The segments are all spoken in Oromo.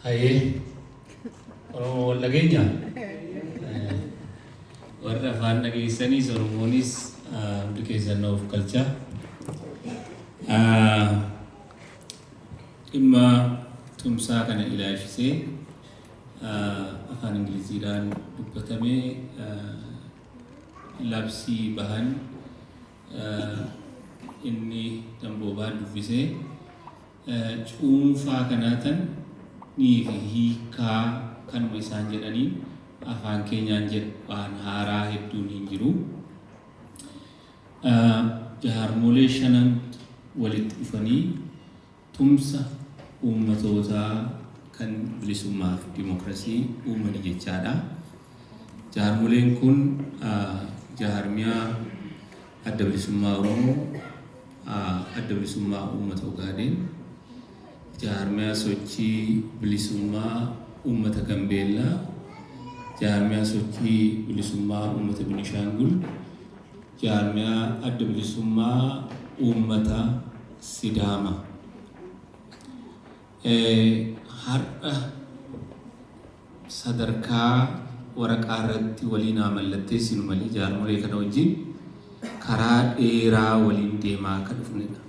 Hayee Oromoo wal dhageenya warra afaan dhageessanis Oromoonis hundi keessan of galcha. Dhimma tumsaa kana ilaalchisee afaan Ingiliziidhaan dubbatamee labsii bahan inni damboobaa dubbisee cuunfaa kanaatan nii fi hiikaa kanuma isaan jedhanii afaan keenyaan jedhe waan haaraa hedduun hin jiru. Jaarmolee shanan walitti dhufanii Tumsa uummatootaa kan bilisummaa fi dimokrasii uumani jechaa dha. Jaarmoleen kun jaarmiyaa Adda Bilisummaa Oromoo, Adda Bilisummaa Uummata Ogaadeen, Jaarmiyaa Sochii Bilisummaa Uummata Gambeellaa, Jaarmiyaa Sochii Bilisummaa Uummata Binishaangul, Jaarmiyaa Adda Bilisummaa Uummata Sidaama har'a sadarkaa waraqaa irratti waliin haa mallatteessinu malee jaarmolee kana wajjin karaa dheeraa waliin deemaa akka dhufnedha.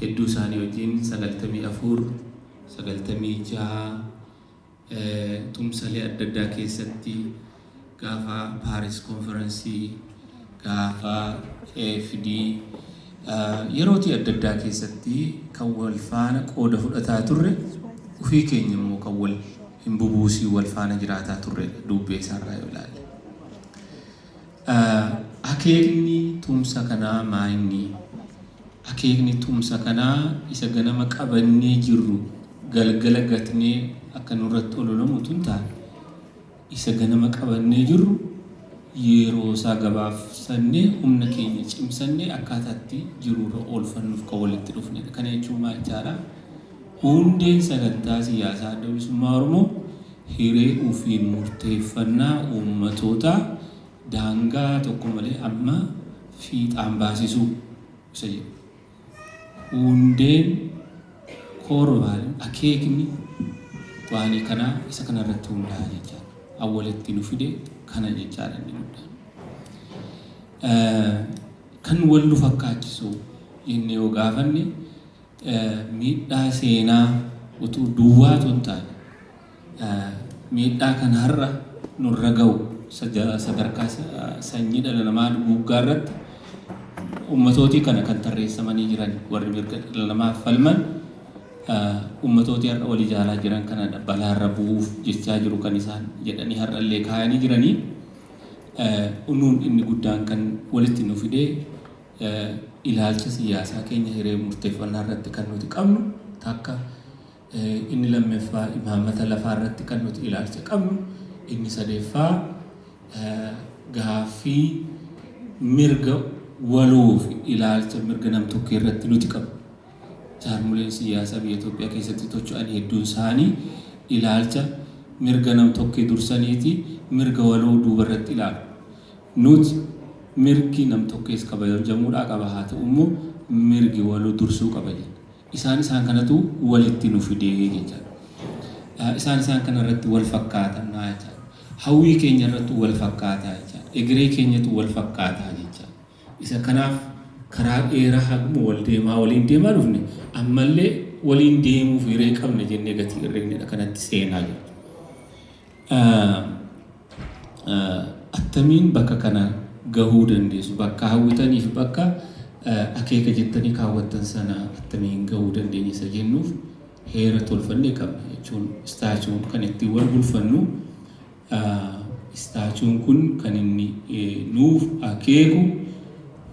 Hedduu isaanii wajjin sagaltamii afur, sagaltamii jaha, Tumsalee adda addaa keessatti gaafa Paaris konferansii, gaafa AFD yerootii adda addaa keessatti kan wal faana qooda fudhataa turre ofii keenya immoo kan wal hin bubuusii wal faana jiraataa turredha duubbee isaarraa yoo ilaalle. Akeekni tumsa kanaa maa inni? Akeekni tumsa kanaa isa ganama qabannee jirru galgala gatnee akka nurratti ololamu utuu hin taane, isa ganama qabannee jirru yeroosaa gabaabsannee humna keenya cimsannee akkaataatti jiruurra oolfannuuf kan walitti dhufnedha. Kana jechuun maal jechaadha? Hundeen sagantaa siyaasaa Adda Bilisummaa Oromoo hiree ofiin murteeffannaa uummatootaa daangaa tokko malee amma fiixaan baasisuu isa jedhu. Hundeen, core value, akeekni waanii kanaa isa kana irratti hundaa'a jechaa dha. An walitti nu fide kana jechaa dha inni guddaan. Kan wal nu fakkaachisu jennee yoo gaafanne, Miidhaa seenaa utuu duwwaatu hin taane, miidhaa kan har'a nurra ga'u sadarkaa sanyii dhala namaa duguuggaa irratti ummatootii kana kan tarreessamanii jiran warri mirga dhala namaaf falman ummatootii har'a wal ijaaraa jiran kana balaarra bu'uuf jechaa jiru kan isaan jedhanii har'a illee kaayanii jiranii. Unuun inni guddaan kan walitti nu fidee ilaalcha siyyaasaa keenya hiree murteeffannaa irratti kan nuti qabnu takka inni lammeffaa imaammata lafaa irratti kan nuti ilaalcha qabnu inni sadeeffaa gaaffii mirga waloo fi ilaalcha mirga namtokkee irratti nuti qabnu. Jaarmoleen siyaasaa biyya Itoophiyaa keessatti tocho'an hedduun isaanii ilaalcha mirga namtokkee dursaniiti mirga waloo duuba irratti ilaalu. Nut mirgi nam-tokkees kabajamuudhaa qaba haa ta'u immoo mirgi waloo dursuu qaba jenna. Isaan isaan kanatu walitti nu fide jechaadha. Isaan isaan kana irratti wal fakkaatanna jechaadha. Hawwii keenya irrattu wal fakkaata jechaadha. Egeree keenyatu wal fakkaata jechaadha. Isa kanaaf karaa dheeraa haguma wal deemaa waliin deemaa dhufne ammallee waliin deemuuf hiree qabna jennee gatii irreennedha kanatti seenaa jirra. attamiin bakka kana gahuu dandeessu? Bakka hawwitaniif bakka akeeka jettanii kaawwattan sana attamiin gahuu dandeenya isa jennuuf heera tolfannee qabna jechuun istaachuun kan ittiin wal bulfannu istaachuun kun kan inni nuuf akeeku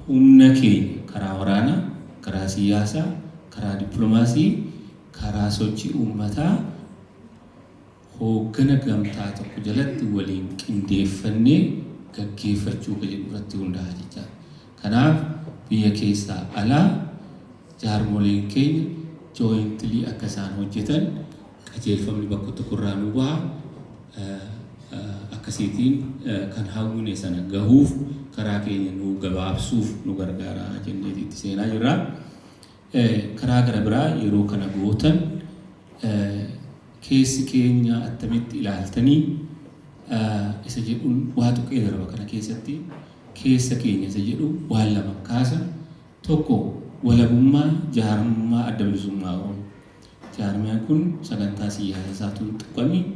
humna keenya karaa waraanaa, karaa siyaasaa, karaa dippiloomaasii, karaa sochii uummataa hooggana gamtaa tokko jalatti waliin qindeeffannee gaggeeffachuu ka jedhu irratti hundaa'a jechaadha. Kanaaf biyya keessaa alaa jaarmoleen keenya jointly akka isaan hojjetan qajeelfamni bakka tokko irraa nuu baha. Akkasiitiin kan hawwine sana gahuuf karaa keenya nuu gabaabsuuf nu gargaara jenneeti itti seenaa jirra. Karaa garabiraa yeroo kana gootan keessi keenya attamitti ilaaltanii isa jedhuun waa tuqee darba kana keessatti keessa keenya isa jedhu waan lama kaasa tokko walabummaa jaarmummaa adda bilisummaa oromoo jaarmiyaan kun sagantaa siyaasa isaatuun tuqamiin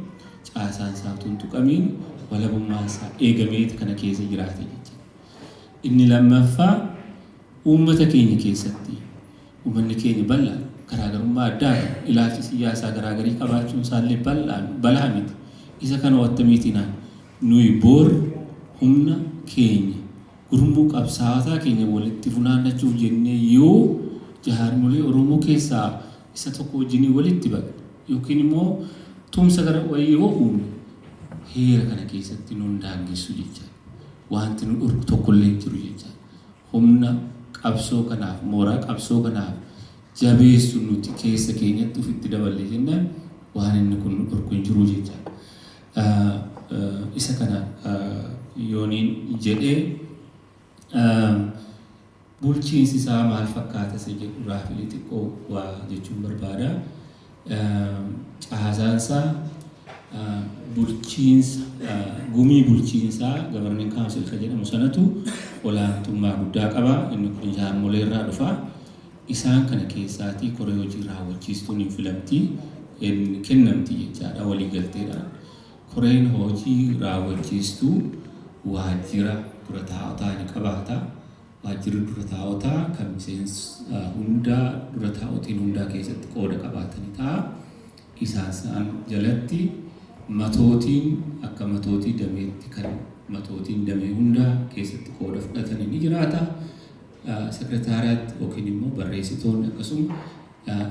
caasaan isaatuun tuqamiin walabummaan isaa eegameeti kana keessa jiraate jecha inni lammaffaa Uummata keenya keessatti uummanni keenya bal'aa garaagarummaa addaa fi ilaalcha siyyaasaa garaagarii qabaachuun isaallee bal'aan balaa miti. Isa kana wattamiitinaa nuyi boor humna keenya gurmuu qabsaawataa keenya walitti funaannachuuf jennee yoo jahaarmolee Oromoo keessaa isa tokko wajjinii walitti baqne yookiin immoo tumsa gara wayii yoo uumne heera kana keessatti nun daangessu jechaa wanti nu dhorku tokkollee hin jiru jechaa Humna qabsoo kanaaf, mooraa qabsoo kanaaf jabeessu nuti keessa keenyatti ofitti daballe jennaan waan inni kun nu dhorku hin jiru jechaadha. Isa kana yooniin jedhe bulchiinsi isaa maal fakkaata isa jedhu raafilee xiqqoo waa jechuun barbaada. Caasaansaa bulchiinsa gumii bulchiinsaa gabarnin kaawunsil kan jedhamu sanatu olaantummaa guddaa qaba. Inni kun jaarmolee irraa dhufa. Isaan kana keessaatii koree hojii raawwachiistuun hin filamti hin kennamti jechaadha waliigalteedhaan. Koreen hojii raawwachiistuu waajjira dura taa'otaa ni qabaata. Waajjirri dura taa'otaa kan miseensa hundaa dura taa'otiin hundaa keessatti qooda qabaatani ta'a. Isaansaan jalatti matootiin akka matootii dameetti kan matootiin damee hundaa keessatti qooda fudhatani ni jiraata. Sekreetaariyaatti yookiin immoo barreessitoonni akkasuma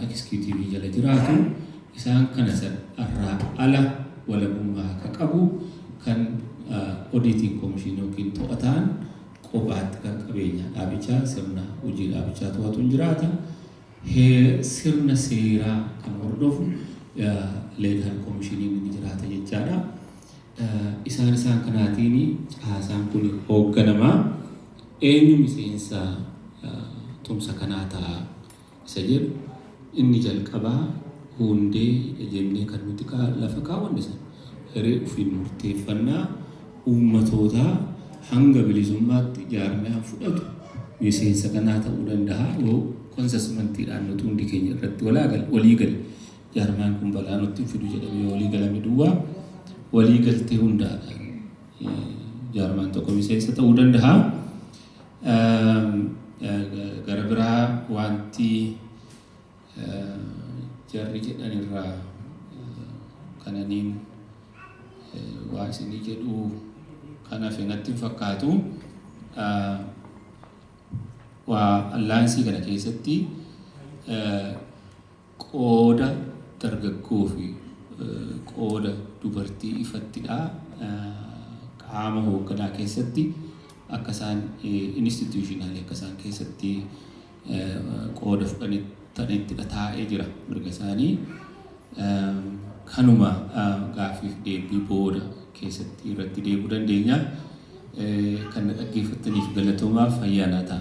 ekisikuutiivii jala jiraatu. Isaan kana san irraa ala walabummaa ka qabu kan odiitiin komishiin yookiin to'ataan qofaatti kan qabeenyaa dhaabichaa sirna hojii dhaabichaa to'atu hin jiraata. Sirna seeraa kan hordofu leegaal komishiniin ni jiraata jechaadha. Isaan isaan kanaatiin caasaan kun hoogganama. Eenyu miseensa tumsa kanaa ta'a? isa jedhu inni jalqabaa huundee jennee kan nuti lafa kaawwanne sana hiree ofiin murteeffannaa uummatootaa hanga bilisummaatti jaarmiyaan fudhatu miseensa kanaa ta'uu danda'a yoo konsasmantiidhaan nuti hundi keenya irratti walaagal walii gale jaarmiyaan kun balaa nutti hin fidu jedhamee walii galame duwwaa walii galtee hundaadhaan jaarmiyaan tokko miseensa ta'uu danda'a. Gara biraa wanti jarri jedhan irraa kananiin waa isinii jedhuu kan hafe natti hin fakkaatu. Waa allaansii kana keessatti Qooda dargaggoo fi qooda dubartii ifatti dha. Qaama hoogganaa keessatti akka isaan institutionally akka isaan keessatti qooda fudhanitti dha taa'ee jira mirga isaanii. Kanuma gaaffiif deebii booda keessatti irratti deebi'uu dandeenya. Kan na dhaggeeffattaniif galatoomaa fayyaa naa ta'a.